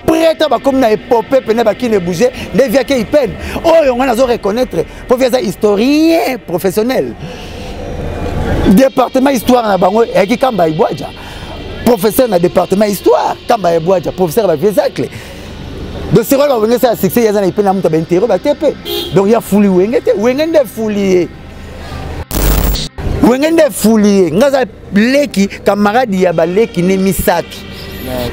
prêtre bakomi na epope pene bakini ebouge nde viake ipene oyo ngai nazo reconnaître mpo vi aza historien professionnel département histoire na bango eyaki kamba ibwaja professeur na département histoire kamba ibwaja professeur ya baviesacle donc sikoyo bawenge sala succès ye aza na ipene ya moto ya baintero bate mpe donc ya fuli wenge te wenge nde fuli ye wenge nde fuli ye ngai aza leki camarade ya baleki ne misato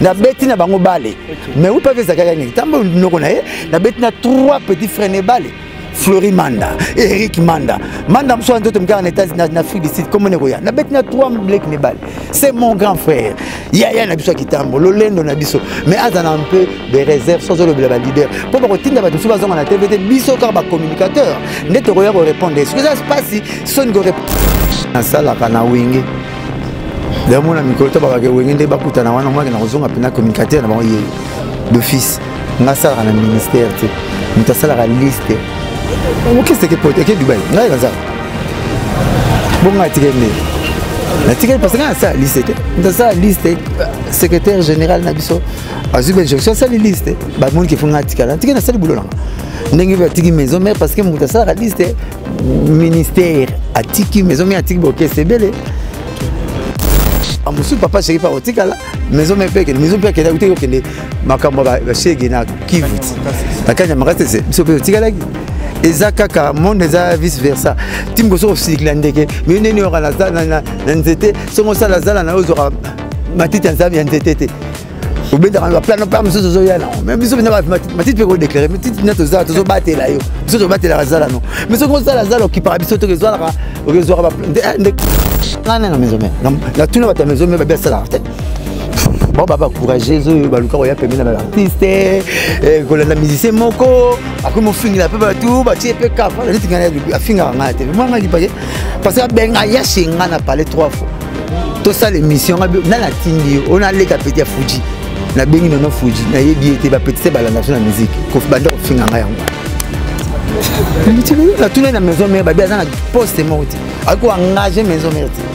nabeti na bango bale mais oui pavi ezalaka nini ntango noko na ye nabeti na trois petit frère ne bale flori manda eric manda manda mosusu ya nzoto mikaka na états na afrique du sud komone koya nabeti na trois leki ne bale c'est mon grand frère yaya na biso ya kitambo lolendo na biso mais aza na mpe de réserve soki ozolobela balider mpo bakotinda bato mosusu bazonga na tv te biso kaka bacommunicateur nde tokoya korépondre esoki eza mpasi soni nasalaka na wenge damona mikolo to bakake wenge nde bakutana wana mwake na kozonga mpena communicateur na bango ye d'office nga asalaka na ministère te moto asalaka liste okeseke pote eke dubai ngai nazala bongo atika nde natikali parce que nga nasala liste te nasala liste secrétaire général na biso azwi benjonction asali liste bamoni ke fo nga atikala natiki nasali bulo nanga ndenge batiki maison mare parce que moto asalaka liste ministère atiki maison mare atiki baokese ebele mosusu papa sherifa otikala maison mare mpe ekende maison mpe akende akutaki okende makambo ya bashege na kivu na kanya makasi te biso mpe otikalaki eza kaka monde eza vice versa timi kosoki kosilikila ndeke mio ndeni oyoka na nzete soki osala zala na yo ozwaka matiti ya nzambe ya nzete te obendaka na baplano mpa mosusu ozoya nango me biso mpenza matiti mpe kodeklare matiti na tozala tozobatela yo biso tobatelaka zala no me soki ozala zala okipaka biso te okezwaka okezwaka nde ngai nanga maison mare natuna bato ya maison mare babiasalaka te bon ba bacourageuse oyo baluka koya pembeni na baartiste eh, kolanda musicien moko akomi mofingela mpe bato batie mpe kafa neti ngai afingaka ngai te mwa ngai lipake parce que abenga yashe ngai na pale trois fois tosala émission ngai natindi yo ona aleka pete ya fuji nabengi nono fuji nayebi ye te bapetise balanda biso na musike banda kofinga ngai yango natuna na maison mare babi aza na poste moko te akoki koengage maison mare te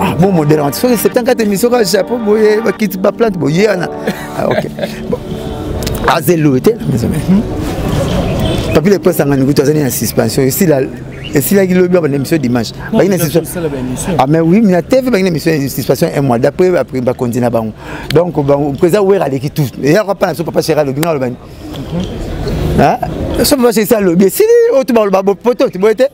ah, bon modèle en soki 74 émission kaka japon boye bakiti baplante boye wana ah, ok bon aza eloye te na maison mère hmm? papi le prince angani kutu azali na suspension esila esilaki lobi baba na émission dimanche bangi na suspension ah mais oui na tv bangi na émission suspension un mois d'après après bakonzi na bango donc bango président wera aleki tout eyaka mpa na so papa chera alobi nga alobani so papa chera alobi esili oyo tubaloba poto tiboye te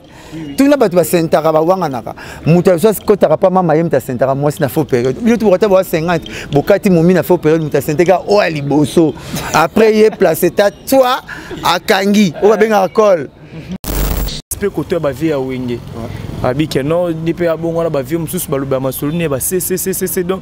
tuni na bato basentaka bawanganaka moto ya sosi kotaka mpa mama ye moto asentaka mwasi na faux période bino toko ata boa 50 bokati momi na faux période moto asenteka oyo ya liboso après ye place ta toi akangi oyo babengaka cole mpe koto ya bavie ya wenge abike no ndi mpe abongwana bavie mosusu balobela masolo ne ya basesesesese donc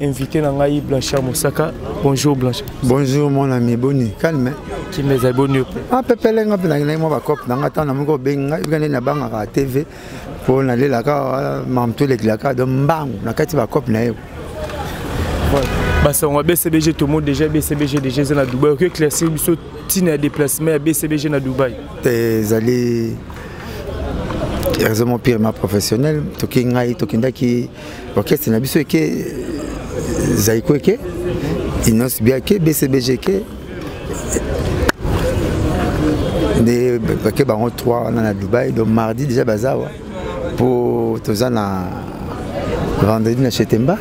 invité na ngai blanchard mosaka bonjour blanchard bonjour mon ami boni calme kimia ezali boni yo apepele nga mpe nakendaki mwa bacope na nga ntango na moko obengi ngai ebika nde nabangaka tv mpo nalelaka euh, mamto elekilaka do mbangu na kati bacope na ye basango ya bcbg tomoni déjà bcbg déjà eza na dubai okoki éclaircir biso ntina ya déplacement ya bcbg na dubai te ezali raisonnement purement professionnel toki ngai tokendaki orchestre na biso eke zaiko eke inonce bia ke bcbg ke nde bake bango 3 wana na dubai donc mardi déjà baza awa mpo toza na vendredi na chetemba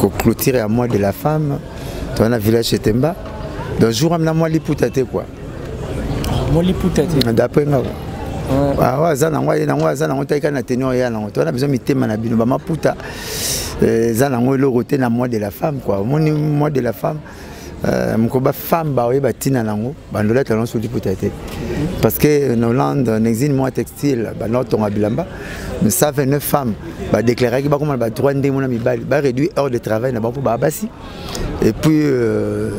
koclotire ya mois de la femme toza na village chetemba donc jour amina mwa liputa te kua moliputa te d'après nga awa aza nango aye nango aza nango taika na tenue oyo ya nango to wana biso mitema na bino bamaputa eh, eza nango eloko te na mois de la femme kua omoni mois de la femme eh, mokoba femme baoyeba ntina nango bandolete yango soki liputa te parce que na hollande na exine mois textile banaotonga bilamba 129 femmes badéclaraki bakoma na badroit ndenge mona mibali baréduit heure de travail na bango mpo baa basi et puis euh,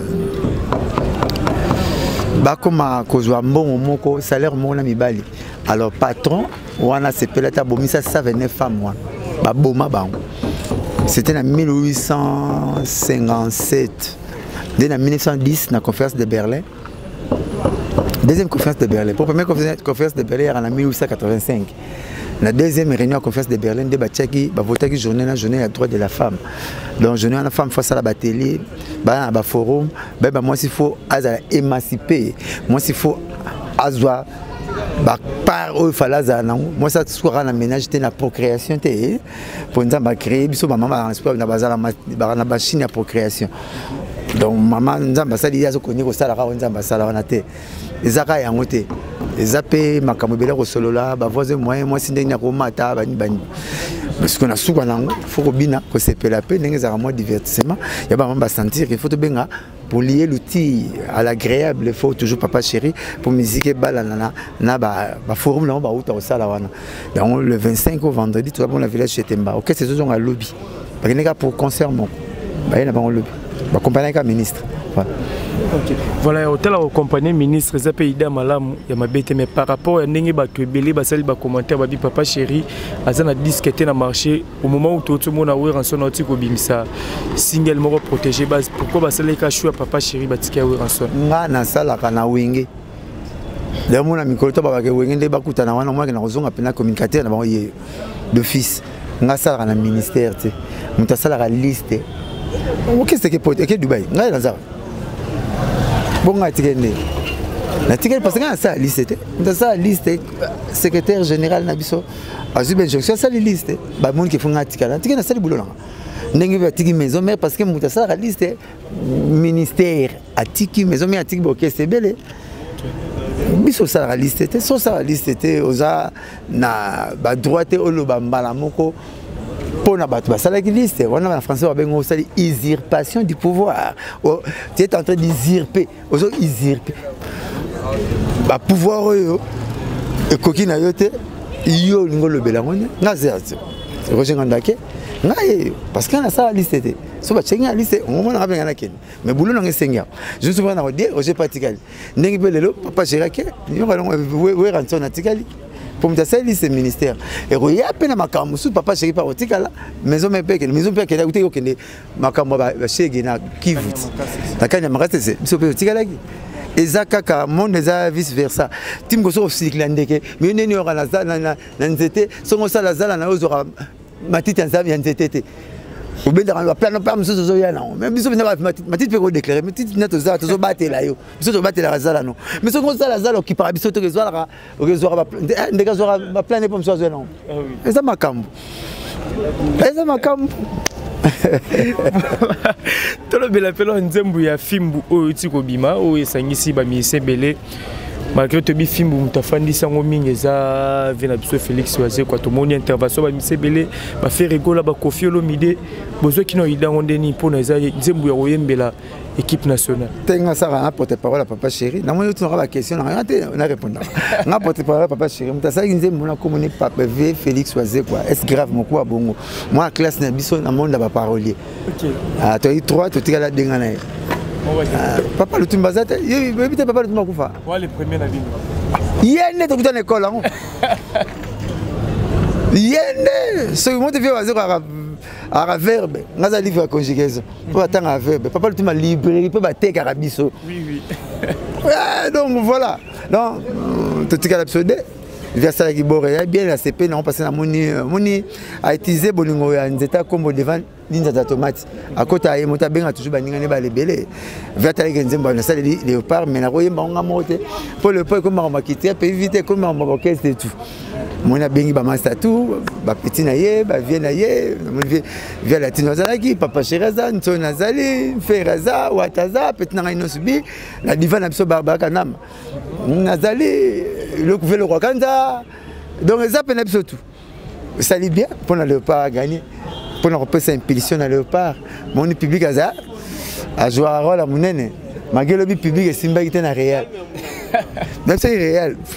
bakoma kozwa mbongo moko salaire moko na mibali alors patron wana sepeli ata abomisa 129 femme wana baboma bango c'était na 1857 nde na 1910 na conférence de berlin deuxième conférence de berlin po première conférence de berlin yaka na 1885 na deuxième réunion ya conférence de berlin nde batiaki bavotaki journée na journée ya droit de la femme donc journée wana femme fo asala batelier baya na baforum bayeba mwasi fo azala émancipe mwasi fo azwa bapart oyo fale azala nango mwasi asukaka na ménage te na procréation te mpo nzambe acréé biso bamama na bazala na bachine ya procréation donc mama nzambe asali ye azokoki kosalaka oyo nzambe asala wana te eza kaka yango te eza mpe makambo ebele kosolola bavoisin moyen mwasi ndenge nini akomata bani bani siko na suka na yango fo kobina kosepela mpe ndenge ezalaka mwa divertissement ya bamama basentir ke fo tobenga polier l'outil à l'agréable il faut toujours papa chéri pour musique et balanana na ba ba forum na ba uta au sala wana donc le 25 au vendredi tu vas bon la village chez Temba OK c'est zozonga lobby bakende kaka pour concert moko baye na bango lobi bakompane kaka ministre voilà. Okay. Voilà, otala okompane ministre eza mpe ida malamu ya mabe te mais par rapport ya ndenge bato ebele basali bacommentaire babi papa chéri aza na disque te na marché au moment où touti omona weranson auti kobimisa single moko protégé base pourquoi basalelaka chou ya papa chéri batiki ya weranson nga nasalaka na wenge lelo mona mikolo to babake wenge nde bakutana wana omaki na kozonga mpena communicateur na bango ye d'office nga asalaka na ministère te moto asalaka liste okeseke pote eke dubai ngai naza bongo ngai atikeli nde natikeli parce ngai nasala liste te moto asala liste secrétaire général na biso azwi bainjonction asali liste bamoni kefu ngai atikala natikeli nasali bulo nanga ndenge batiki maison mare parce que moto asalaka liste ministère atiki maison mère atiki bokese ebele biso osalaka liste te so osala liste te oza na badroit te oloba mbala moko mpo na bato basalaki liste wana na français babengi osali usurpation du pouvoir tu es en train d'usurper ozo usurpe ba pouvoir oyo ekoki na yo te yo olingi olobela yango nde nga zerzo roger ngandake nga yeyo parce que nasala liste te so batiaki nga liste omomona nga mpenga nakende mais bulo nanga esengi yango zusu mpenga nakodie roger mpe atikali ndenge mpe lelo papa gerake weranson atikali mpo moto asali liste ministère ekoya mpe na makambo mosusu papa gerake mpe akotikala maison mpe ekende maison mpe akende akutaki okende makambo ya bashege na kivu bakani ya makasi ese biso mpe otikalaki eza kaka monde eza vice versa ti mokoso kosilikila ndeke miyo ndeni yoka na nzete songo osala zala na yo ozwaka matiti ya nzete te obendaka baplano mpe mosusu ozoya nango me biso mpenza matiti mpe kodeklare matiti na tozala tozobatela yo biso tobatelaka zala no me soki ozala zala okipaka biso toke ezwalaka okezwaka ndeke azwaka baplane mpo mosu azwa nango eza makambo eza makambo tolobela mpela nzembo ya fimbu oyo euti kobima oyo esangisi bamiise ebele malgré toyebi fimbu moto afandisi yango mingi eza vie na biso félix wazekwa tomoni intervention bamiise ebele baferegola bakofi olomide bozwaki na oyida yango ndeni mpona eza nzembo ya koyembela équipe nationale te nga asaka na porte parole ya papa chéri namoni otunaka baquestion na nga te narépondaka nga porte parole ya papa chéri moto asalaki nzembo na komoni pape v félix wazekwa est grave mokuwa bongo mwa classe na biso na monde ya baparolier ah, toyaki trois totikala denga na ye ah, papa lutumba aza te yebi te papa lutumba akufa ye nde tokuta na ekole yango ye nde soki moto vie wazekwa aka verbe nga aza livre ya conjugaison mpo batangaka verbe papa lutuma librairie mpe batekaka biso eh, donc voilà donc euh, totikala biso de vi asalaki bore ya bien ya sepe nango mpasi namoni euh, moni autilize bolingo ya nzete ya nkombo devant linzata ya tomate akota ye moto abenga toujours baninga ne bala ebele vi atalaki nzembo nasaleli leopard mai nakoyemba ngo nga moko te mpo leopard ekomi makambo ya kitia mpe vi te ekomi makambo ya orchestre etu moni abengi bamasta tu bapeti na ye bavie na ye vie latino azalaki papa sheri aza nsoni azali fere aza wata aza peti na ngai nyonso bi na diva na biso barbara kanama nazali lokuve lokwakanza donc eza mpe na biso tu esali bien mpo na léopard aganye mpo na kopesa impulsion na léopard moni public aza azwaka role ya monene mage elobi public esimbaki te na réel na biso iréel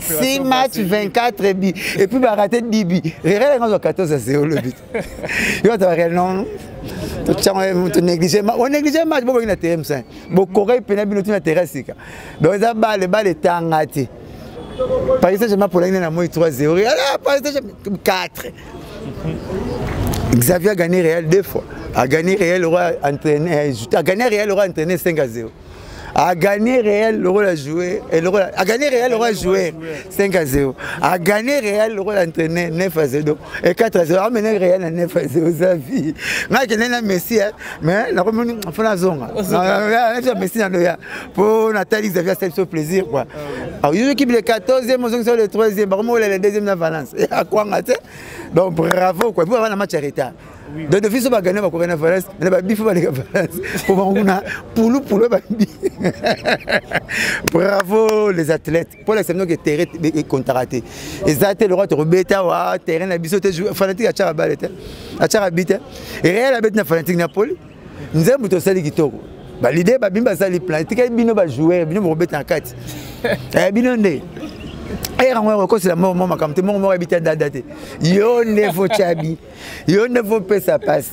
si match 24 bi et puis ba raté dibi rere nga zo 14 0 le but yo ta rere non to chango to négliger ma on négliger match bo na terrain sain bo correct pena bino tu na terrain sika donc za balle balle tangati Paris Saint-Germain pour l'année na moi 3 0 ala Paris Saint-Germain 4 Xavier a gagné Real deux fois a gagné Real roi entraîné a gagné Real roi entraîné 5 à 0 a gagné réel lokola joueur et lokola a gagné réel lokola joueur 5 à 0 a gagné réel lokola entraîneur 9 à 0 et 4 à 0 a mené réel na 9 à 0 za vie nga kende na Messi hein mais na komoni fona zonga na na Messi na loya po na tali Xavier c'est so plaisir quoi alors yo équipe le 14e mozongi sur le 3e ba komola le 2e na Valence et à quoi ngate donc bravo quoi pour avoir un match en retard donc de biso bagania bakoka na valence na babifa baleka valence po bakokuna pulupulu babi bravo les athlètes mpo lakisa bino ke terrain ekontaka te eza te lokola tokobeta wa terrain na biso te fanatique atyaka bale te atyaka bi te real abeti na fanatique na poli nzembo tosali kitoko balide babimi basali plan etikali bino bajoueur bino bokobeta na kati eh, bino nde erango ya kokosela moko mwa makambo te moko moko yebi te dada te yo nde focabi yo nde faut pesa pasi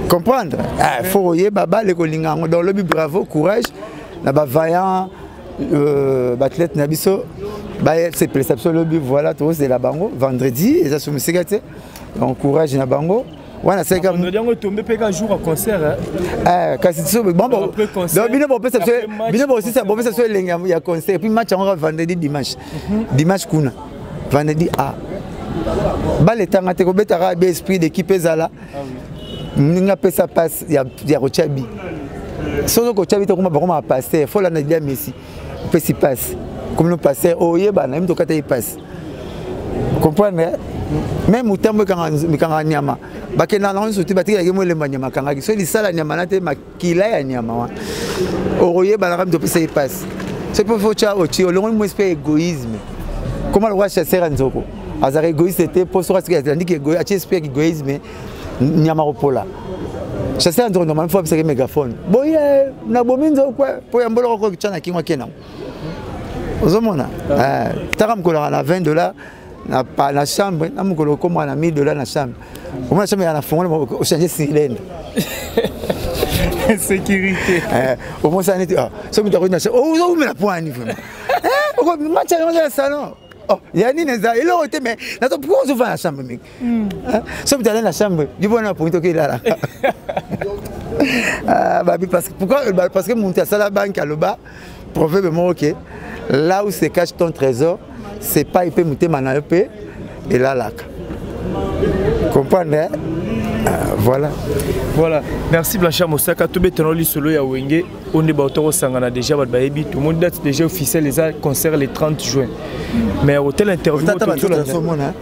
comprendre eh, faut koyeba bale kolinga yango donc lobi bravo courage na bavaillant euh, baathlète na biso basepelisa biso lobi voilà tozela bango vendredi eza so mosika te donc courage na bango wana seka ah, vendredi yango etombe mpe ka jour ya concert eh, kasi so bino bopesa biso elengi ya concert puis match yango ka vendredi dimanche dimanche kuna vendredi a ah. baletanga te kobetaka be esprit d'équipe ezala ndenge apesa passe ya kotya bi soki okotya bi te koma bakoma bapaster fo olanda dia messi opesi passe komino paster oyebana yemi tokata ye passe comprendre me motambo ekanga nyama bakenda nango nyonso te batikelaki molemba nyama akangaki soki lisala nyama na te kila ya nyama wana okoyebanaka mito opesa ye mpasi soki mpo fo tya otie olongoli mwesi mpe egoïsme koma lokola chasseur ya nzoko azalaka egoïste te mpo soki asiki andiki atie esprit ya egoïsme nyama kopola chasseur ya nzoko normalement fo apesaki mégaphone boye nabomi nzoko mpo ya mboloko kokitya na kingo ake nango ozomona eh, taka mokolaka na 20 dollar na, pa, na chambre na mokolo okoma na 1000 dollars na chambre omona chambre ya na fongola ochange silende sécurité eh, omonisa neti ah, soki moto akoti na chambre oh, ozowumela mpo ani vraiment eh, match yango ya salon oh, ya nini eza eloko te mais nazo mpo ozovanda na chambre mingi hmm. eh, soki moto alali na chambre libona na pongi toki elala ah, babi parce que pourquoi parce que moto asala banki aloba proverbe moko ke là où se cache ton trésor c'est pas mpe motema na yo mpe elalaka comprendre hein? Ah, voilà voilà merci blanchard mosaka tobetana lisolo ya wenge oyo nde bato tokosangana déjà bato bayebi tomoni date déjà officiel eza concert le 30 juin mais hotel interview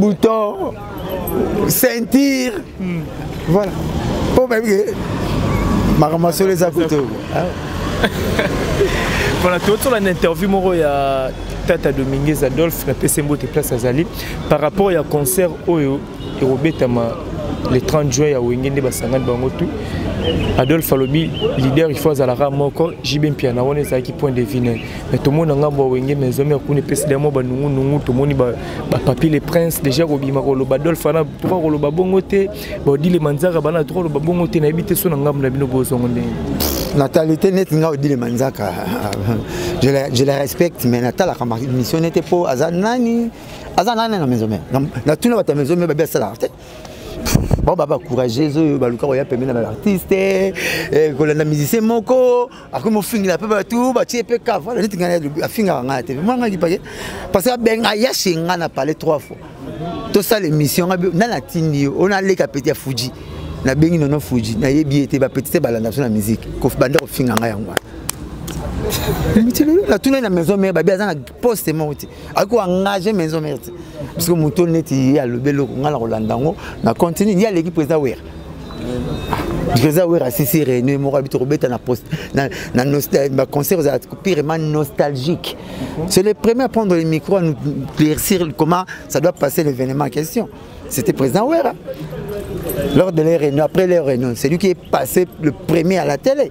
bouton ceinture hmm. voilà mpo bayebi ke makambo masolo eza kutu voilà totola na interview moko ya tata dominguez adolphe napesi mbote place azali par rapport ya concert oyo ekobetama le 30 juin ya wenge nde basangani bango tout adolphe alobi leader il faut azalaka moko jb mpiana wana ezalaki point de vue naye me tomona ngambo ya wenge me ezwami akuna epesi da mwa banungunungu tomoni bapapier le prince déjà kobima koloba dolf ana toka koloba bongo te baodile manzaka bana toka koloba bongo te nayebi te so na ngambo na bino bozongo ndenge natali te neti ngai odile manzaka je la respecte mais natalaka mission nete mpo aza nani aza nani na maison mère natuna bato ya maison mère babi asalaka te bango ba bacourageuse oyo baluka koya pembe na baartiste eh, kolanda musicien moko akomi ofingela mpe bato batie mpe kava neti ngai afingaka ngai na tv mwa ngai kipake parce que abenga ayashe ngai na palais trois fois tosala émission ngai nani atindi yo oyo naleka peti ya fuji nabengi nono fuji nayebi ye te bapeti te balanda biso na miziki banda kofinga ngai yango wana mitilo natuna na maison mare babi aza na poste moko te akoki koengage maison mare te parce que moto neti ye alobi eloko ngai na kolanda yango na continue ye aleki président wera président wera asisi réunion moko abi tokobeta na poste baconcert ozala pirement nostalgique c'est le premier à prendre le micro à nous éclaircir comment ça doit passer l'événement en question c'était président wera lors de leur réunion après leur réunion c'est lui qui est passé le premier à la télé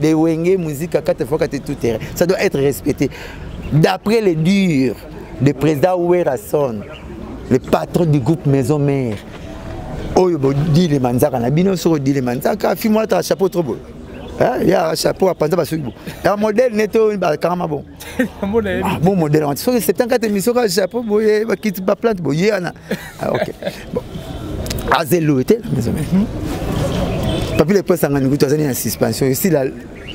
de wenge musique kata faut kata tout terrain ça doit être respecté d'après les durs de président Werrason le patron du groupe maison mère oyo bodile manzaka na bino soki odile manzaka fimwata chapeau trop boye ya chapeau apanza basuki bo ya modele nete oyo bakangama bongo ah, bon modèle wana soki 74 émission kaka japon boye bakiti baplante boye wana ah, ok bon aza eloye te na maison mhm. papi lepo esangani kutu azali na suspension esila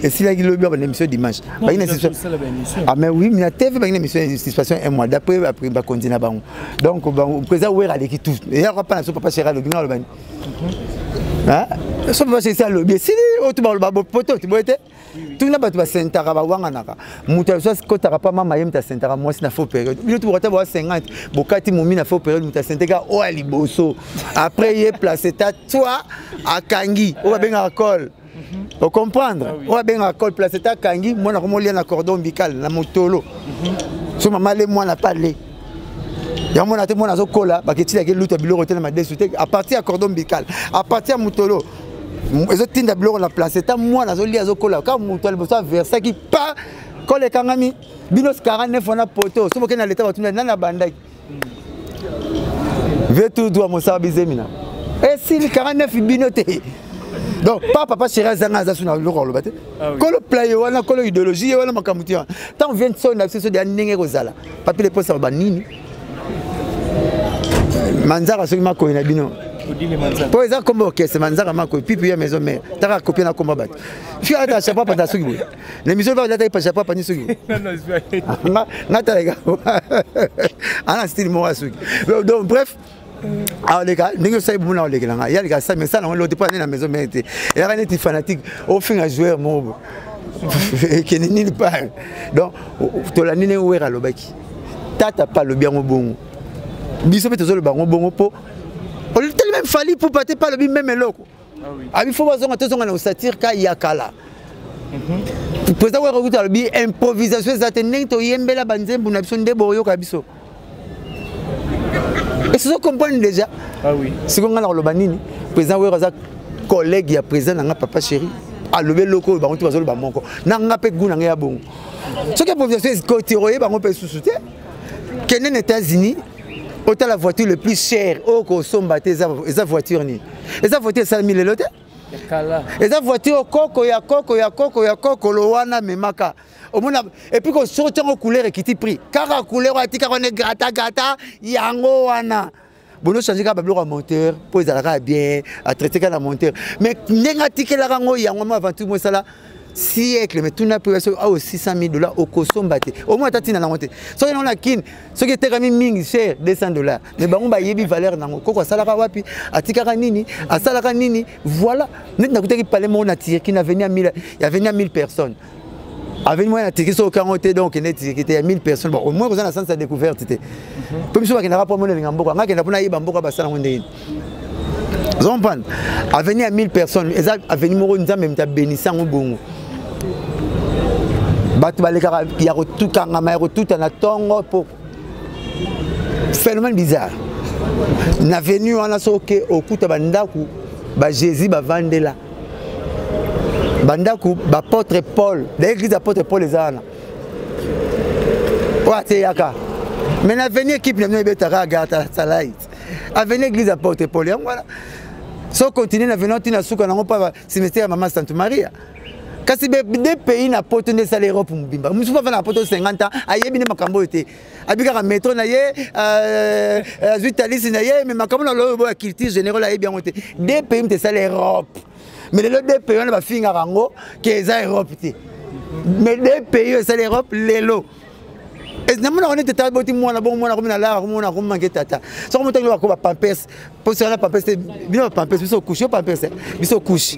esilaki lobi ya banemission dimanche bangi na suspension ah mais oui na tv bangi na émission ya suspension un mois d'après bakonzi na bango donc président wera aleki tout eyaka mpa na so papa chera alobi nga alobani mhm. ah, so papa chera alobi esili oyo tubaloba bopoto tiboye te tuna bato basentaka bawanganaka moto aso akotaka mpa mama ye moto asentaka mwasi na faux période bino toboko ata boa 50 bokati momi na faux période moto asenteka oyo ya liboso après ye place ta toi akangi oyo babengaka cole mhm. ocomprendre ah oyo abengaka cole place ta akangi mwana yango molia na cordon ombical na motolo mhm. so mama le mwana pale yango mwana te mwana azokola baketilaki luta biloko te na madesu te apartir ya cordon ombical apartir ya motolo ezotinda biloko na place ta mwana azolia azokola kaka moto ya liboso aversaki pa kole ekangami bino 49 wana poto soki okende na leta batuna nani abandaki vetu dwa mosala bizemina esili 49 bino te donc pa papa chéri azanga aza so na biloko aloba te ah kolo playe wana kolo idéologie ye wana makambo te wana ntango vie nsoni na biso so deya ndenge ekozala papi leposa banini manzaka soki makoyi na bino mpo eza kombo orchestre manzaka makoyi pipi ya maison mare taka kopie na kombo ya bato fika ata chapeau apanda soki boye na émission va lataki pa chapeau apandi soki boye nga talaka ana style moko ya soki donc bref aleka ndenge osali bomona olekela ngai ye aleka sami esala yango loti mpo ane na maison mare te eyaka neti fanatique ofinga joueur moko ekende nini pale donc tolandi ndenge were alobaki tata mpe alobi yango bongo biso mpe tozoloba yango bongo mpo olitali meme fali pupa te mpe alobi meme eloko ah abi fo bazonga tozonga na osatire ka ya kala mhm. président wera kuta alobi improvisation eza te ndenge toyembela banzembo na biso nde boyoka biso esozo comprendre déjà ah siko ngai nakoloba nini président wera aza collègue ya président na ngai papa chéri alobi eloko oyo bango te bazoloba moko na ngai mpe gu na ngai ya bongo soki improvisation ekoti oye bango mpe susu te kende na états-unis otala voiture le plus cher oyo kosomba te eza voiture nini eza voiture esalemi lelo te eza voiture koko ya koko ya koko ya kokolo wana memaka omona epuis kosoko ntango couleur ekiti prix kaka couleur wana tika wana egrata grata yango wana bono change kaka babiloko ya monteur mpo ezalaka bien atraite kaka na monteur mais ndenge atikelaka yango yango mo aventure mosala siècle mais tuna mpe soki awa 600 000 dollars okosomba te omoi ata ntina nango te soki nango na kine soki etekami mingi cher 200 dollars mais bango bayebi valeur nango koko asalaka wapi atikaka nini asalaka nini voilà neti nakutaki pale moko na tirki na veni ya 1000 ya veni ya 1000 personnes aveni moko na tirki soki okango te donc okende tirki te ya 1000 personnes bon omoi koza na sens ya découverte te mpo biso bakendaka mpo amona elinga mboka ngai akenda mpo nayeba mboka basala yango ndenge oza comprendre avenue ya 1000 personnes eza avenue moko nzambe moto abenisi yango bongo bato balekaka ya kotukangama ya kotuta na ntongo mpo phénomène bizarre na avenue wana soki okuta bandako bajésus bavandela bandako bapôtre paul da église apôtre paul eza wana oyo ateyaka mais na avenue équipe na bino ebetaka agarta salai avenue église ya porte pole yango wana so continue na venant ntina suka nango mpa cimetière ya mama sante maria kasi de pays na poto nde esala europe mobimba mosusu mpo afanda na poto 50 ans ayebi nde makambo oyo te abikaka metro na ye euh, euh, azwi talisi na ye me makambo na loyo boya culture générale ayebi yango te de pays moto esala europe me lelo de pays wana bafingaka yango ke eza europe te me de pays oyo esala europe lelo namonaka nete tata boti mwana bongo mwana komi nalaka komona komanke tata soko moto ngi bakoba pampers mpo soki na pampers te bino bapampers biso kushe yo pampers biso kushe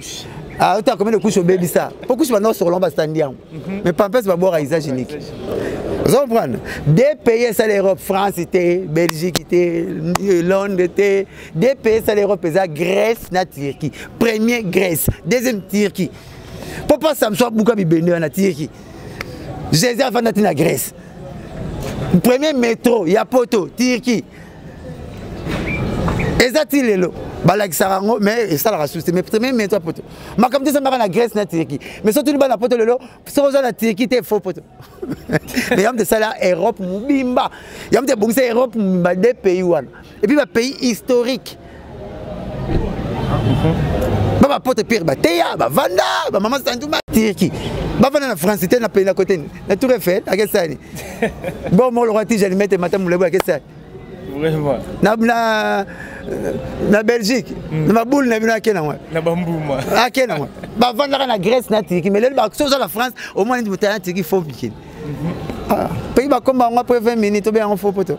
ah, ota combien de couches obebisa mpo couche banda osokola ngo basitandi yango mhm. mais pampers babwaka usage unique ozo comprendre de pays esala europe france te belgique te euh, londres te de pays esala europe eza grèce na turquie premier grèce deuxième turquie mpo mpo samso abuka bibende wana tirki jésus afanda ti na grèce premier métro ya poto turquie eza ti lelo balakisaka yango mais esalaka susi mais premier métro ya poto makambo te esambaka na grèce na turquie mais soki tuni bana poto lelo soki oza na turquie te faux poto mais yango te esala europe mobimba yango te ebongisa europe mobimba de pays wana et puis ba pays historique mhm. ba ba pote pire ba teya ba vanda ba maman sanduma tirki ba vanda na france te na pays na côté na tour Eiffel à quel sani bon mon roi tijani mette matam le à quel sani vraiment na na na belgique mm. na baboule na bino ake nango na bambuma ake nango bavandaka na grèce na turki mais lelo bakoki oza na france omoni moto ya na turki fo mikili mhm. ah, pays bakoma yango apres 20 minutes obe yango fo poto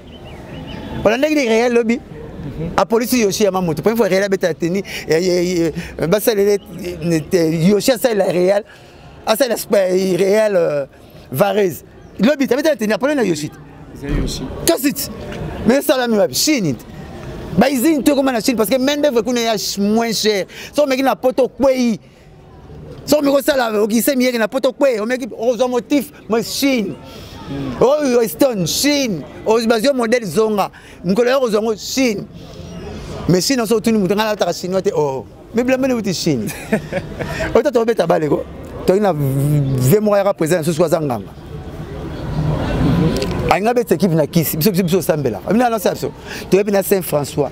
olandaki nde real lobi mhm. apolisi yoshi ya mamoto première fois real abetala teni basalele yoshi asalela real asalela real euh, varese lobi tabetala teni apolani na yoshi tosit mais esalami wapi chine te baizini to ekoma na chine parce que main d'œuvre kuna ya moins cher so omeki na poto okwei soki mikosala okise miyeke na poto kwe omeki okozwa motif mo chine oyo weston chine bazwi modele zonga mokolo ya kozwa ngo chine mais chine oso otuni moto ngai nalataka chinois te oo oh. mibilambeni wuti chine oyo tata obeta baleko toyina ve moko ayaka président na susu aza nganga alingi abetisa ekipe na kisi biso biso biso osambelaka bino anonse ya biso toyebi na saint françois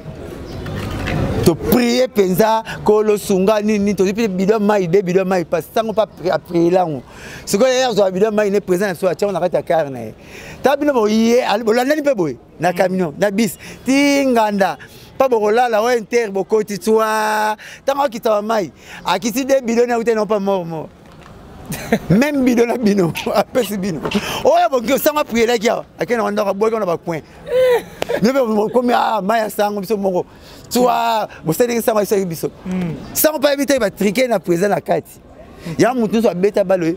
toprie mpenza kolo sunga nini tozwi mpe bido mai de bido mai mpasi ntango mpe aprie lango sikoyo ye azwaka bido mai ne présent ya so atyango na kati ya kare na ye ta bino boye bolandani mpe boye na camion na bis ti nganda mpo bokolala o inter bokoti twa ntango akitama mai akiti de bido ne akuti nao mpa mormor meme bido na bino apesi bino oyo boki osanga prielaki awa ake na wandako aboyaki wana bacoin mpe okomi a mai ya sango biso moko twa bosalelaki sango ayisaki biso hmm. sango mpe ayebi te batrike na président na kati ya motu nyonso abeta balo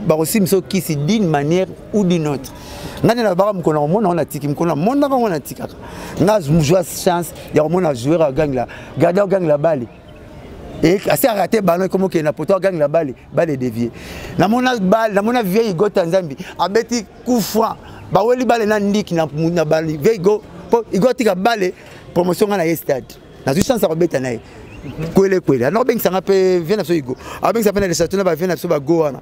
bakosimba biso kisi d'une manière ou d'une autre ngai nde nabaka mokolo na komona yango natiki mokolo na monaka yango natikaka ngai azwa chance ya komona joueur agangela garde agangela bale Et assez raté ballon comme que na poto gang la balle balle dévié. Na mona balle na mona vieille go Tanzambi abeti coup franc. Ba weli balle na ndik na na balle vieille go po igoti ka balle promotion na ye stade. Na zu chance ko beta na ye. Kwele kwele. Na bengisa ngape vient na so igo. Abengisa pe na le château na ba vient na so ba go wana.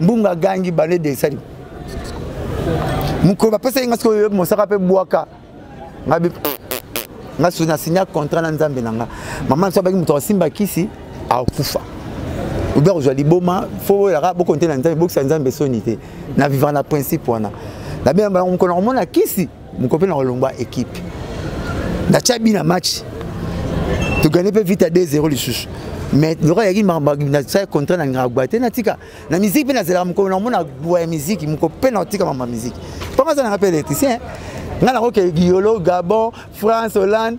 mbunga agangi bande desali mokolo bapesaki nga sikoyo mosaka mpe bwaka nga nga soki na signa contrat na nzambe na nga mama so abaki moto akosimba kisi akufa obi akozwa liboma fo oyaka bokonte na nzambe bokisa nzambe soni te na vivre na principe wana nabenga bango mokolo nakomona kisi Mokope na kolongwa ekipe. Na tia bi na match. To gagner pe vite à 2-0 lisusu. Mais lokola yaki mamba na tia contrat na ngagwa te na tika. Na musique pe na zela mokolo na mona gwa ya musique mokope na tika mamba musique. Panga za na pe électricien. Nga na ko ke Guyolo, Gabon, France, Hollande.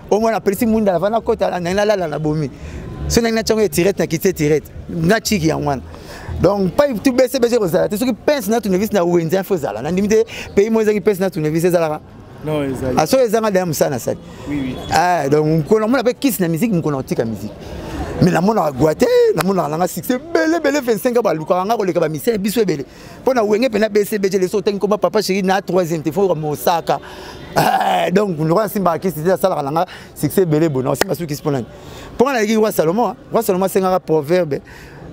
oyo mwana apelisi munda nava nakota nangi nalala na bomi soki nangi natyango etirete na kiti etirete natiki yango wana donc pai tu bese bese ekozala te soki pince na tournevis na wenze info ezala nandimi te pays moko ezalaki pince na tournevis ezalaka ah, soki ezanga daya mosala nasali ah, donc mokolo namona mpe kisi na miziki mokolo nakotika miziki mais namonaka gwa te namonaka nanga succès ebele ebele 25 balukaka nga koleka bamisele biso ebele mpo na wenge mpe na bcbg leso otangi koma papa chéri na troisième te foka mosaka eh, donc ndoko nasimbaka kisi te asalaka na nga succès ebele bona osimba soki kisi mpo nani mpo nga naleki roi salomon roi salomon asengaka proverbe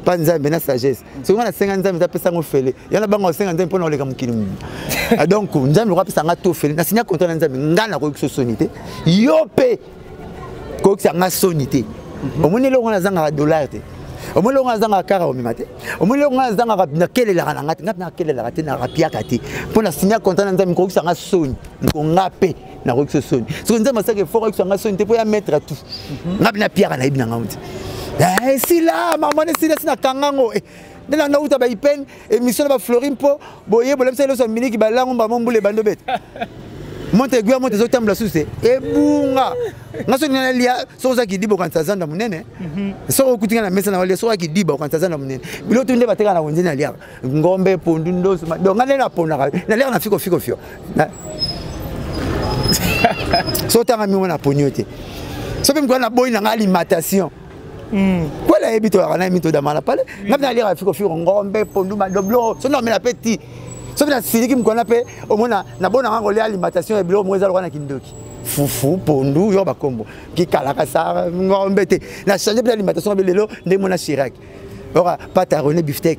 mpa nzambe na sagesse soki nga nasenga nzambe eza apesa yango fele ya na banga osenga nzambe mpo na oleka mokili mobima ah, donc nzambe loko apesa nga to fele nasinya kontra na nzambe ngai nakoki kisosoni te yo mpe kokisa nga soni te mhm. omoni eloko wana azangaka dollar te omoni eloko wana azangaka kara omema te omoni eloko wana azangaka nakelelaka na nga te nga mpe nakelelaka te narapiaka te mpo na sinya konta na nzambe kokisa nga soni mpo nga mpe nakokisa soni soki nzambe asaki efort akisa nga soni te mpo ya mettre tout mhm. nga mpe napiaka nayebi na ngango te esila eh, mama wana esila si nakanga ngo eh, nde na nga uta baipene émission na ba Florine po boye bolamisa loso miniki ba langu mbamo mbule bando bete monte egwi ya monte ezotambola susu te ebunga nga soki nga nalia soki oza kidiba okanisa zanda monene mhm. soki okuti nga na mesa na walia soki akidiba okanisa zanda monene bilo tu nde bateka na wenze naliaka ngombe pondu ndoso donc nga nde naponaka naliaka na fikofikofio so otanga mingo na poni yo te soki mpe mokolo naboyi na nga alimentation Mm. kwela yebi toyaka naye mito damala pale mm. nga mpe naliyaka fiko fiko ngombe pondu madoblo so naomela mpe ti soki nasiliki mokwana mpe omona nabonaka kolia alimentation ya biloko moko eza lokola na kindoki fufu pondu yo bakombo kikalakasa ngombe te na change mpe alimentation ya bilelo nde mona chirac oka pata rene biftek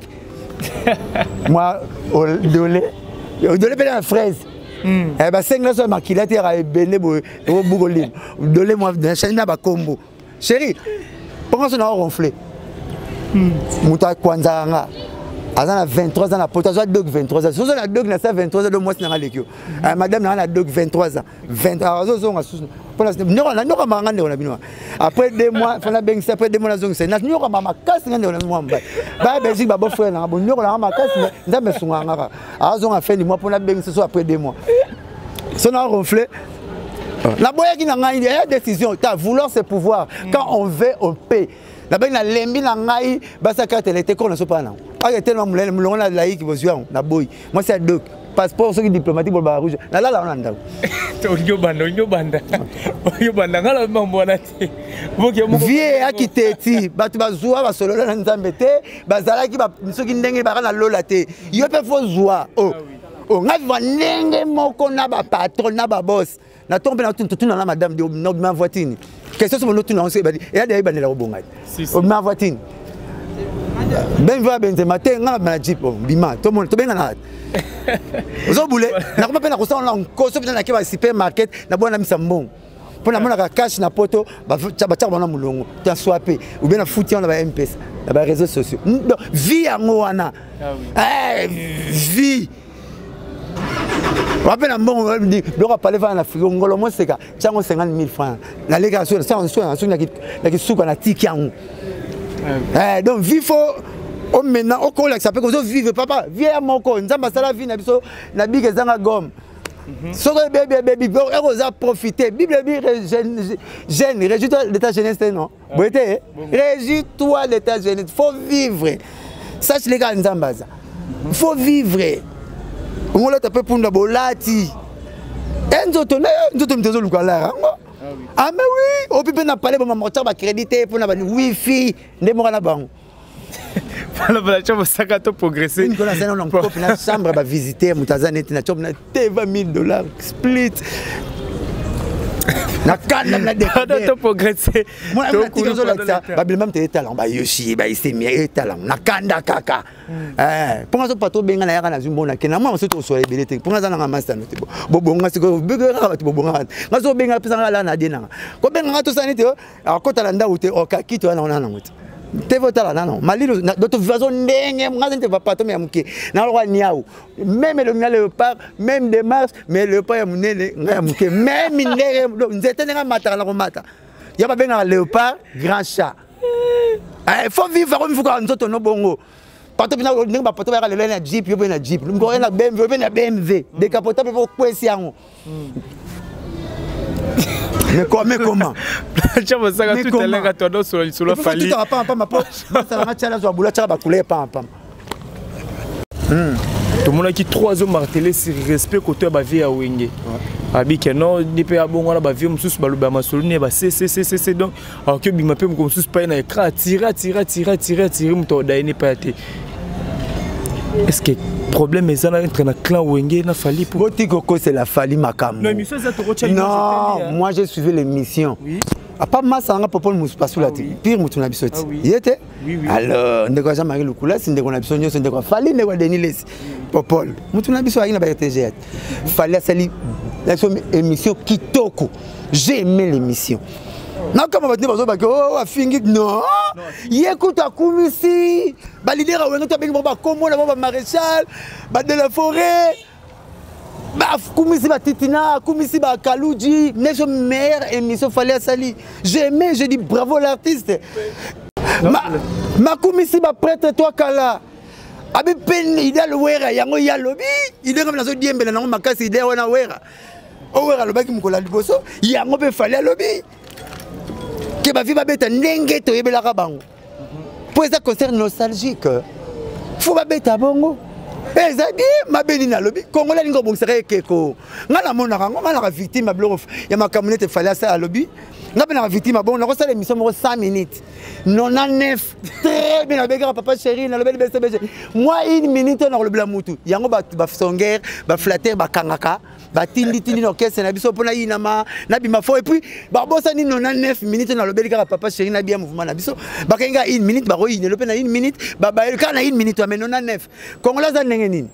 mwa dole dole mpe na fraise hmm. eh, basengi naso ya makila te yaka ebele boye obukolima dole mwa change na bakombo chéri mponga so na oronfle hmm. moto akwanzaka nga aza na 23 ans na poto azwa dog 23 ans sozo na dog na sa 23 ans do mwasi nanga leki yo hmm. eh, madame nanga na dog 23 ans 20 ah, azozonga susu mpona nanyokamaka nga ndeko na bino après deux mois fo nabengisa après deux mois nazongisa nanyokamaka makasi nga ndeko na bino mwa mobali baya belgique babo frère nanga bonyokolanga makasi nzambe asungaka nga kaka azonga fin du mois mpo nabengisa so après deux mois so na ronfle naboyaki na ngai ya décision ta vouloir ce pouvoir mm. quand on veut on paie nabengi nalembi na ngai basaki atele te kona sopa nango ake telema molele molongo na laiki bozwi yango naboyi mwasi ya doki passeport soki diplomatique bolobaka rouge nalala wana ndako olingi obanda olingi obanda olingi obanda ngai nalobi mambo wana te vie eyaki te ti bato bazwa basolola na nzambe te bazalaki soki ndenge baka na lola te yo mpe fo zwa o oh. ah Oh, nga viva ndenge moko na ba patron na ba boss na tombe na tuntu tuna na madame de no ma voitine question somo no tuna on se badi ya de ibandela ko bonga o ma voitine ben viva benze matin nga na jeep oh, bima to mon to benga na ozo bule na ko pe na ko sa on ko so pe na ke ba supermarket na bona misa mbongo mpo namonaka cash na poto batiaka bango na molongo ta swape oubien na futi yango na ba mpesa na ba réseaux sociaux vie yango wana ah eh, vie wape na mbongo biloko apale fana na frigo ngolo moseka tiango 50 000 franc nalekaka soki na kisuka na tiki yango eh, donc vie fo omena okolakisa mpe kozovivre papa vie ya moko nzambe asala vie na biso na bika ezanga gomme Mhm. soki ebebi ebebi ekoza profite bible ebi jeune réjouis toi de ta jeunesse te non ah. boye te réjouis toi de ta jeunesse faut vivre sache leka ya nzambe aza mhm. faut vivre ongolata mpe punda bolati e nzoto na yo nzoto moto ezoluka lara yango ame ah ah, wi opi mpe na pale bamamortar bacrédit te mpo na bani wifi nde moko na bango balabala tya mosaka to progresse une kola sana on copie na chambre ba visiter moto aza neti na chambre na te 20000 dollars split na kanda na dekada to progresser moi na tika zo lakisa ba bilma mte talent ba yoshi ba isemi e talent na kanda kaka hmm. eh ponga zo pato benga na yaka na zumbo na kena moi msoto so ebele te ponga za na master no te bo bonga siko bebe ka ba to bonga ngazo benga pesa ngala na dena ko benga ngato sanite akota na ndako te okakito wana wana nango te teve otala nano malilo doto vivazo ndenge ngaze nte bapatome ya moke naloka niau meme elongi na leopard meme demarche mais leopard ya monene nga ya moke meme ndenge nzete ndenge amataka na komata ya babengaka leopard grand chat eh, faut vivre yango mifuka ya nzoto no bongo pato mpena ndenge bapato bayaka lelo na jeep yo mpe na jeep oye na bmv oye mpe na bmv mm. dekapota mpe okwesi yango mm. mais quoi mais comment tia masaka tout à l'heure toi sur le sur le fali tout à pas pas ma po ça va tia la zo boula tia ba couler pas pas hmm tout mon qui trois hommes martelé sur respect côté ba vie à wenge abike non dipe abongo na ba vie mususu ba loba masolune ba ccccc donc alors que bima pe mokomo susu paye na écran atire atire atire atire atire moto odaye ne paya te est ce que problème eza na entre na clan wenge na fali po boti kokosela fali makambo non moi j'ai suivi l'émission oui. apa masa nanga popole mosusu pasula te pire motu na biso te ye te alors ndeko ya jean marie lukulasi ndeko na biso nyonso ndeko ya fali ndeko ya denis lesi popole motu na biso ayaki na ba rtg fali asali naso émission kitoko j'ai aimé l'émission nakama bato nde bazobaki o oh, afingi non ye kutu akumisi balider ya wenge to abengi bango bakombo na bango bamaréchal bade la forêt akumisi batitina akumisi bakaluji neso meilleure émission fali asali j'ai aimé je dis bravo l'artiste makumisi baprêtre toi kala abi pene idal wera yango ye alobi ide kama nazodiembela nango makasi ide wana wera o wera alobaki mokolo ya liboso yango mpe fali alobi ke bavi babeta ndenge toyebelaka bango mpo eza concert nostalgique fo babeta bongo eh, eza bie mabe nini alobi kongo alingi obongisaka ekeko ngai namonaka yango ngai naka victime ya biloko ya makambo nete fali asala alobi ngai mpe naka victime ya bongo nakosala émission moko 100 minutes 99 très bien nabengaka papa chéri nalobeli bcbg mwa une minute oyo nakolobela mutu yango basongere baflatere bakangaka batinditindi na orkestre na biso mpo nayinama nabima fo epuis babosani no na 9 minute nalobeli kaka papa chéri nabiya mouvement na biso bakengi kaka une minute bakoyinelo mpe na une minute babayeli kaka na une minute ameno na 9 congolais aza ndenge nini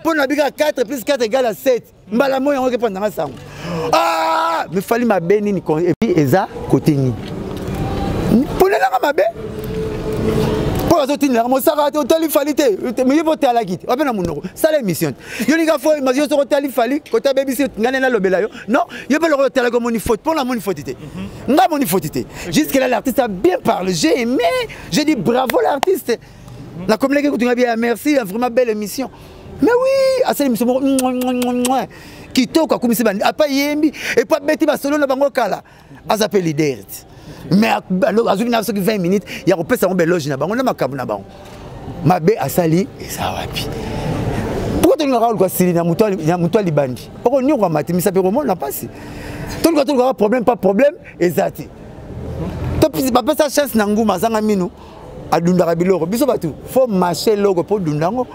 mpo na bika 4 plus 4 egala 7 mbala moi yango ekepanda nga sango ah! mifali mabe nini epi eza kote nini mponelanga mabe mpo azotindelaka mosaka te otali fali te miye mpo otalaki te wape na monoko sala émission te yo linga fo yo soko otali fali kota bebisi ngai nde nalobela yo non yo mpe lokola otalaki omoni faute mpo namoni faute te mhm. ngai amoni faute te jusque là l'artiste a bien parle j'ai aimé j'ai dit bravo l'artiste Na communique kutu nga bien merci vraiment belle émission. Mais oui, asali émission moko kitoko akumisi bandi apa yembi et puis abeti ba solo na bango kala. Aza pe leader. Mais azwi na soki 20 minutes ya kopesa bango beloge na bango na makambo na bango. Mabe asali eza wapi? Pourquoi tu n'as pas le droit de na mutuali na mutuali bandi? Oko nyoko matimisa pe komona pasi. toluka tolukaka problème pa problème eza te bapesa chance na nguma azanga mino adundaka biloko biso bato faut marche eloko mpo dunda yango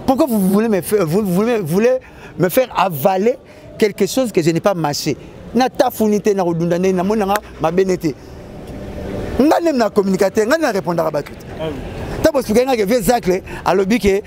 pourquoi vous voulez me faire, vous voulez, voulez me faire avaler quelque chose que je n'ai pas marché natafuni te nakodunda ndenge namoni nanga mabe ne te ngai nemi na communicateur ngai na répondaka bato te ntango bosukai ngaki vieux zacle alobi ke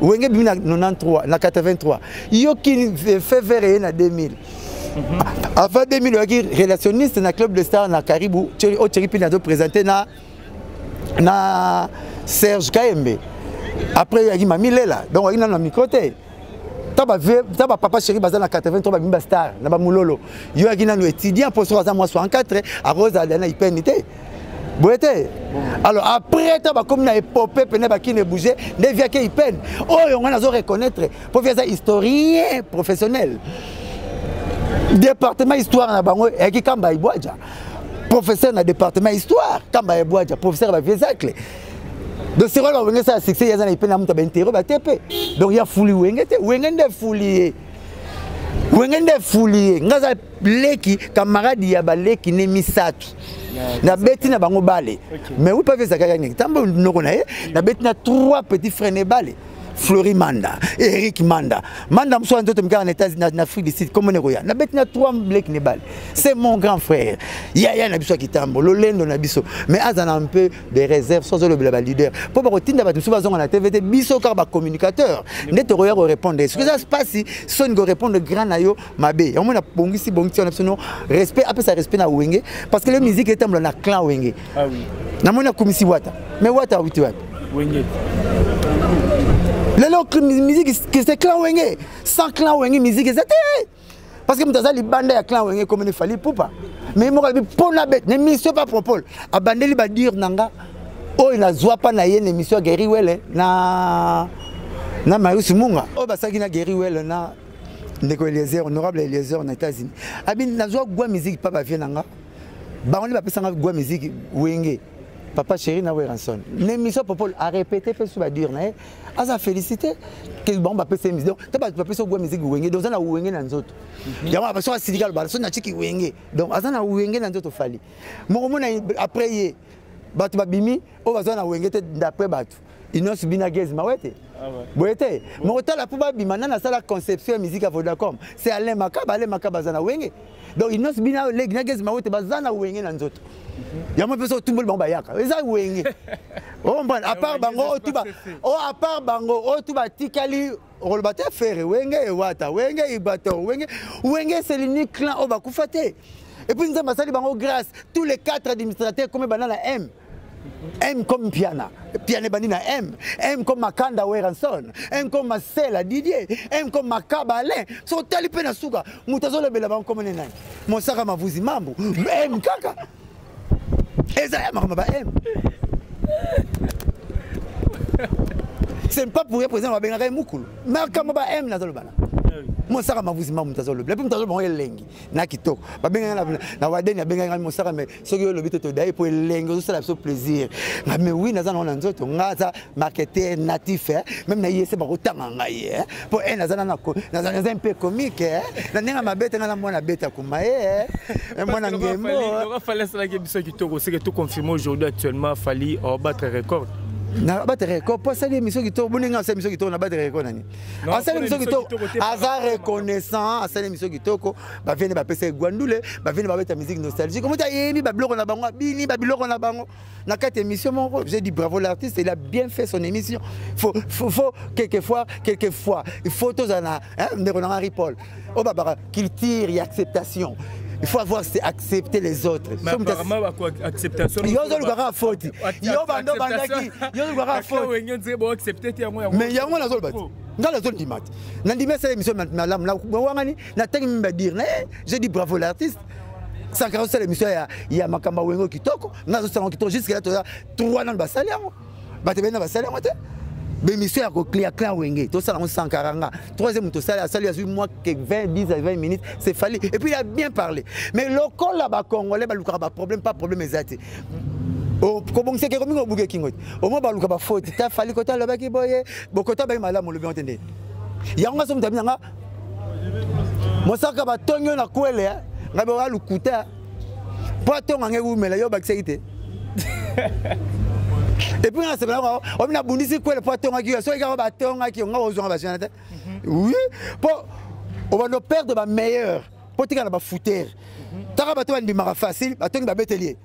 wenge bimi na 93 na 83 yo kini eh, fever eye na 2000 mhm. ah, avant 2000 oyaki relationniste na club de star na karibu o cheri mpini azo présente na na serge kayembe après oyaki mami lela donc oyaki nano na micro te ta bapapa chéri baza na 83 babimi bastar na bamololo yo oyaki nano étudiant mpo soki aza mwasi 4 akozala na ipeni te boye te alors après ntango bakomi na epope pene bakini ebouge nde vi akei peine oyo ngai nazo reconnaître mpo vi aza historien professionnel département histoire na bango eyaki kamba ibwaja professeur na département histoire kamba ibwaja professeur ya baviesacle donc sikoyo bawenge esala succès yaza na ipe na moto baintere bate mpe donc ya fuli wenge te wenge nde fuli ye wenge nde fuli ye ngai aza leki kamaradi ya baleki ne misato nabeti na bango bale mais wi pavi ezalaka yangi ntango noko na ye nabeti na trois petit frère ne bale Fleury Manda, Eric Manda. Manda Msoa Ndoto Mika en États-Unis, en Afrique du Sud, comme Negoya. Na betina trois Blake Nebal. C'est mon grand frère. Yaya Nabiso Kitambo, Lolendo Nabiso. Mais Azan a un peu des réserves, sans le blabla leader. Pour que Tinda Batumsu Bazon en TVT, Biso Karba communicateur. Netoroya répondre. Ce que ça se passe, si Son go répondre grand ayo, mabe yango na bongisi bongisi wana biso no respect apesa respect na wenge parce que le musique etambola na clan wenge ah oui. namoni akumisi wata mais wata awiti wapi wenge lelo musique c'est clan wenge sans clan wenge musique eza te parce que moto aza libanda ya clan wenge ekomini fali pupa mais moko alobi mpo na bete na émission pa propole abandeli badire na nga oyo nazwa mpa na ye na émission ya guerri wele na na marius munga oyo basalaki na guerri wele na ndeko eliezer honorable eliezer na états-unis abi nazwa gwa miziki mpa bavie na nga bango nde bapesanga gwa miziki wenge papa chéri na weranson na émission popol arépété mpe su badure na ye aza félicité ke bango bapesa ye miziki donc ta bato bapesa ogwa miziki wenge donc aza na wenge na nzoto mhm. yango abaso asiliki alobala so natiki wenge donc aza na wenge na nzoto fali mokomona après ye bato babimi oyo baza na wenge te d'après bato Inos Bina Gez Mawete ah boye te moko tala mpo babima nani asala conception ya musique ya vodacom c'est alain makaba alain makaba aza na wenge donc inos bina olegi na gezi mawete baza na wenge na nzoto mhm. yango mpe so otumboli bango bayaka eza wenge ombana oh, apart bango otuba o apart bango otu batikali okoloba te fere wenge ewata wenge ibator wenge wenge eselini clan oyo bakufa te epuis nzambe asali bango grâce tous les quatre administrateurs kome banda na m M comme Piana, Piana Banina M, M comme Makanda Weranson, M comme Marcela Didier, M comme Makaba Alain, so tali pe na suka, mutazo le bela bango comme nena. Mosaka mavuzi mambo, M kaka. Eza ya makamba ba M. C'est pas pour représenter ma bengaka mukulu. Makamba ba M na zolo bana. mosaka mavuzi mamu mutazo lobi lepi mutazo bango elengi na kitoko babengaka na wadeni abengaka mosaka soki yo olobi te todaye mpo elenge ozosala biso plaisir nga me wi naza nango na nzoto nga aza marketer natif eh. meme na yese bakotanga ngai eh. mpo e eh, naza naza mpe comique eh. na ndenge mabe te nga na mwana beta kuma ye mwana ngemofali asalaki biso kitoko seke to confirme aujourd'hui actuellement fali obattre oh, record na bate record mpo asali émission kitoko boni ngai asali émission kitoko na bate record nani asali émission kitoko aza reconnaissant asali émission kitoko bavie nde bapesa egwandule bavie nde babeta musique nostalgique omoti ayemi babiloko na bango abini babiloko na bango na kati émission moko j'ai dit bravo l'artiste il a bien fait son émission faut, faut, faut quelquefois quelquefois il faut tozala na hein, ndeko na henri paul oyo oh, babaka culture ya acceptation il faut avoir c'est accepter les autres yo ozolukaka foti yo bando bandaki yo olukaka foti mais yango nazoloba te ngai nazondima te nandimi asala émission malamu nawangani natangi mimi badire na ye je dis bravo l'artiste sankara osala émission ya, ya makambo ya wenge kitoko nga azosala yango kitoko jusque là toza trois nano basali yango bato ebena basali yango te bémission ya koklia clan wenge tosala yango sankara nga troisième moto osali asali azwi mwa ke 20 10 à 20 minutes c'est fali et puis il a bien parlé mais lokola bacongolais balukaka baproblème pas problème eza te kobongisa ke komingi obuke kingo te omoi baluka bafoti ta fali kota alobaki boye bokota baye malamu olobi yango te nde yango nga somoto abinanga mosaka batongi yo na kwele eh? ngai boka lukuta mpo atonga ngai wumela yo obakisaki te epuis nga nasepelaka omi nabundisi kwele mpo atongaki yo soki kaka batongaki yo nga kozwanga bajana te mhm. oui mpo obanda operdre bameilleur mpo tika na bafoutere taka bato bandimaka facile batongi babeteli ye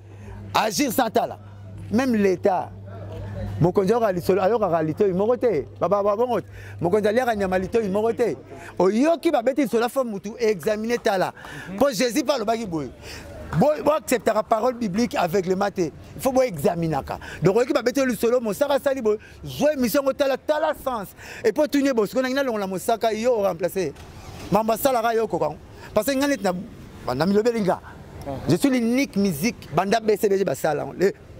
agir sans tala même l'état mokonzi ayokaka lisolo ayokaka litoi moko te babongo te mokonzi aliaka nyama litoi moko te oyoki babeti lisolo afo motu examine tala mpo jésus mpe alobaki boye boacceptaka parole biblique aveuglement te il faut boexaminaka donc oyoki babeti yo lisolo mosaka asali boye zwa émission yango tala tala sens epuis otuni ye bosiko nangi nalongola mosaka yo oremplace mambo asalaka yo okokango parce que ngai neti na banda milobeli nga je suis l'unique musique banda bcbg basala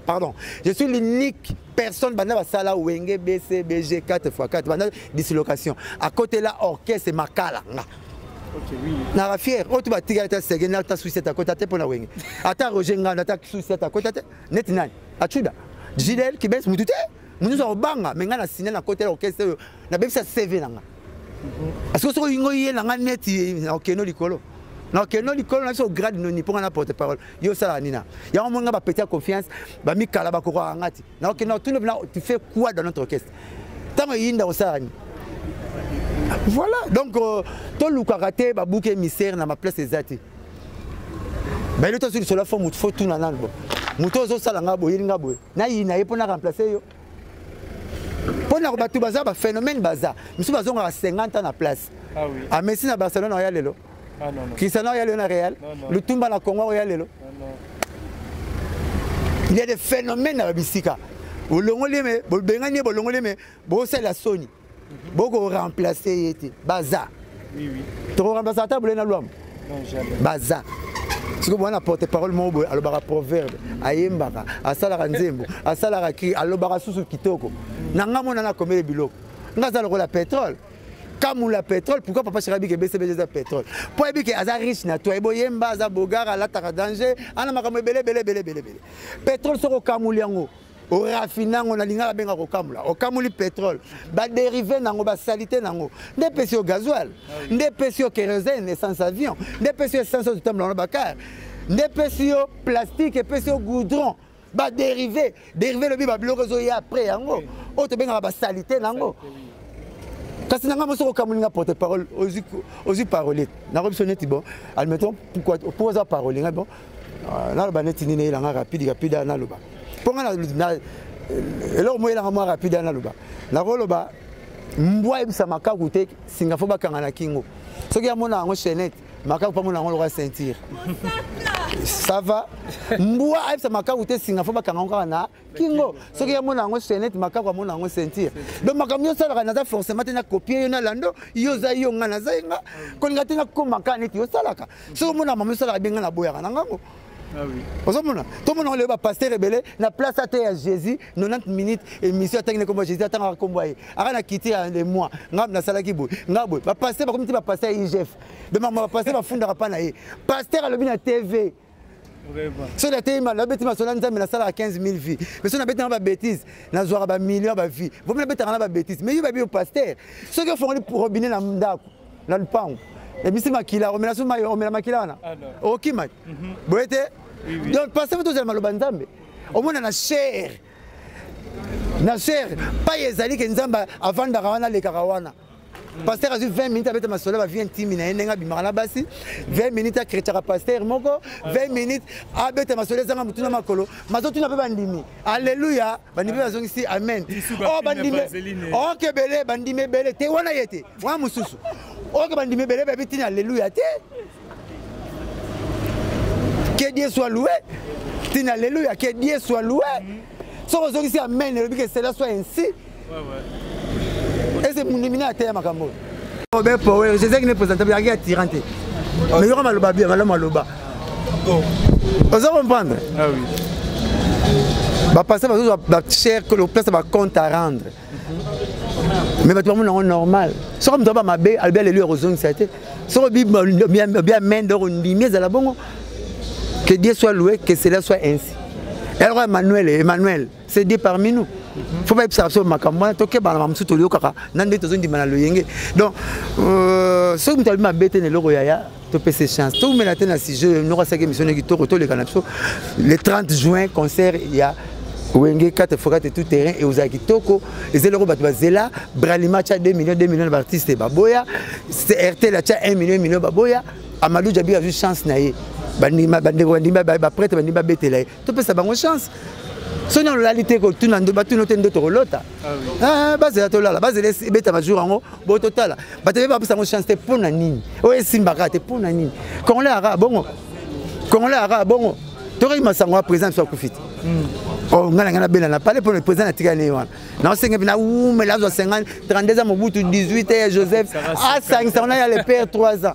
pardon je suis l'unique personne banda basala wenge bcbg 4 x 4 banda dislocation à côté là orchestre makala nga naka fiere oyo to batikali ta sege na ta suicete akota te mpo na wenge ata roger nganda ata suicete akota te neti nani acuda gidel kibes mutu te mutu nyonso akobanga me ngai na sine na kotela orchestre oyo nabebisa cv na ngai parce que soki olingi oye na ngai neti na okeno likolo na okeno likolo na biso ograde noni mpo nga na porte parole yo osalaka nina yango omoni nga bapeti ya confiance bamikala bakokaka nga ti na okeno otuni mpena tu fais quoi dans notre orchestre ntango eyinda osalaka nini voilà donc euh, tolukaka te babuki émissaire na baplace eza te bayebi tosi lisolo fo motu fo tuna nano bo motu ozosala nga boyeli nga boye nayina ye mpo na remplace yo mpo na bato baza baphénomène baza misusu bazongaka 50 ans na place ah amesi ah, na barcelone oya lelo ah, cristiano oya lelo na real lutumba na congo oya lelo il y a des phénomènes na babisika bolongoli me bobengani ye bolongoli me bosalela soni boko remplacer ye te baza toko remplacer ata bule na lwambo baza sikoyo mwana porte parole moko boye alobaka proverbe ayembaka asalaka nzembo asalaka kri alobaka susu kitoko na ngai mona nakomele biloko ngai aza lokola petrole kamula petrole pourquoi papa shaka bike bcbg eza petrole mpo ayebi ke aza riche na toi boyemba aza bogar alataka danger ana makambo ebele ebele ebele ebele ebele petrole soki okamuli yango orafine yango na lingala benga kokamula okamuli petrole baderive nango basalite nango nde epesi yo gazoil ah nde epesi yo kerosene essence avion nde epesi yo essence ototambola wana bakar nde epesi yo plastique epesi yo goudron baderive derive elobi babiloko ezoya apres yango oyo tobengaka basalite nango kasi na ngai mosi okokamoli nga porte parole ozwi parole nakobiso neti bon admettons pourquoi oza parole ngai bon Ah, naloba neti nini eyelanga rapide rapide ya naloba mpo nga eloko moko eyelanga mwa rapide ya naloba nakoloba mbwa ayebisa makaku te singa fo bakanga na kingo soki amona yango chainete makaku mpo amona yango lokola ceinture ça va mbwa ayebisa makaku te singa fo bakanga yango kaka na kingo soki amona yango chainete makaku amona yango ceinture donc makambo nyonso alaka naza forcément te na copie yo na lando yo oza yo nga naza ye nga kolinga te nakoma kaka neti osalaka soki omona mama esalaka bien ngai naboyaka na ngango Ah ozomona tomona lelo bapaster ebele na place ata ya jésus 90 minutes émission atangi na nkombo ya jésus atangaka nkombo ya ye aka na kiti ya le mois ngai nasalaki boye ngai boye bapaster bakomi ti bapaster ya igf bemama bapaster bafundaka mpa na ye paster alobi na tv soki nateyi nabeti masolo ya nzambe nasalaka 15 000 vie mais soki nabetanga babétise nazwaka bamillion ya bavie vomi nabetaka na babétise mais yo babi yo paster soki ofongoli robine na ndako na lupangu ebisi makila omela so mai omela makila wana ah, okima mhm. boye te donc pase fo tozela maloba nzambe omona na chair na chair pai ezali ke nzambe avandaka wana alekaka wana mm. paster azwi 20 minutes abeta masolo bavie intime na ye ndenge abimaka na basi 20 minutes akretaka paster moko 20 ah, minutes abeta masolo ezanga motuna makolo mazotuna mpe bandimi alleluya bandimi bazongisi amen oh, bandimi oke ebele bandimi ebele te wana ye te wana mosusu oke bandimi ebele bayebi ntina alleluya te que dieu soit loué ntina alleluya que dieu soit loué soki ozongisi amen elobi que cela soit ainsi ese mundimina ateya makambo oyo be power ezaki ne présente yaki ya tyran te oh. mais yoka maloba bia malamu aloba oh. oza comprendre ah bapasa bazozwa bachere que lopesa bacompte à rendre mhm. mais bato bamona yango normal soki moto aba mabe alobi alelo ya kozongisa te soki bia mende oko ndimi ezala bongo que dieu soit loué que cela soit ainsi eloko emmanuel emmanuel c'est des parmi nous faut bayebisa biso makambo wana tokebana bamosusu toyokaka na nde tozondima na loyenge donc euh, soki moto alobi mabe te na eloko yaya topesa chance toumela te na sujet noko asaki émission ne kitoko toleka na biso le 30 juin concert ya wenge kate fokate tout terrain ekozala kitoko eza eloko bato bazela bralima atya 2 million 2 million na baartiste baboya rtl atya 1 million 1 million baboya amadou jabi azwi chance na ye bandeko bandimi baprete bandimi babetela ye topesa bango chance soki nano olali te kotuna batuna te ndoto kolota ah eh, bazela tolala bazela ebeta bajour yango bo totala bato ebe bapesa yango chance te mpo na nini oyo esimbaka te mpo na nini congolais aka bongo congolais aka bongo tokoki masango ya président biso akufi te hmm. oh, ngai na ngai nabela na pale mpona président natikali ne wana naosenga mpe nawumela azwa 50 32 ans mobutu 18 joseph asangisa wana ya le père 3 ans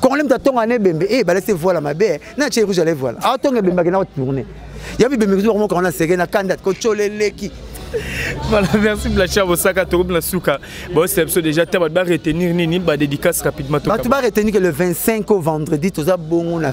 congolais moto atonga na ebembe e eh, balasi evoila mabe na tie rouge ala evoila atonga ebembe akenda kotourne ya bibembe kutu bakomokanga na seke na kanda kotyola eleki voilà merci blacha bosaka tokomi na suka baosela biso déjà te bato baretenir nini badédicace rapidement bato baretenir ke le 25 au vendredi toza bongo na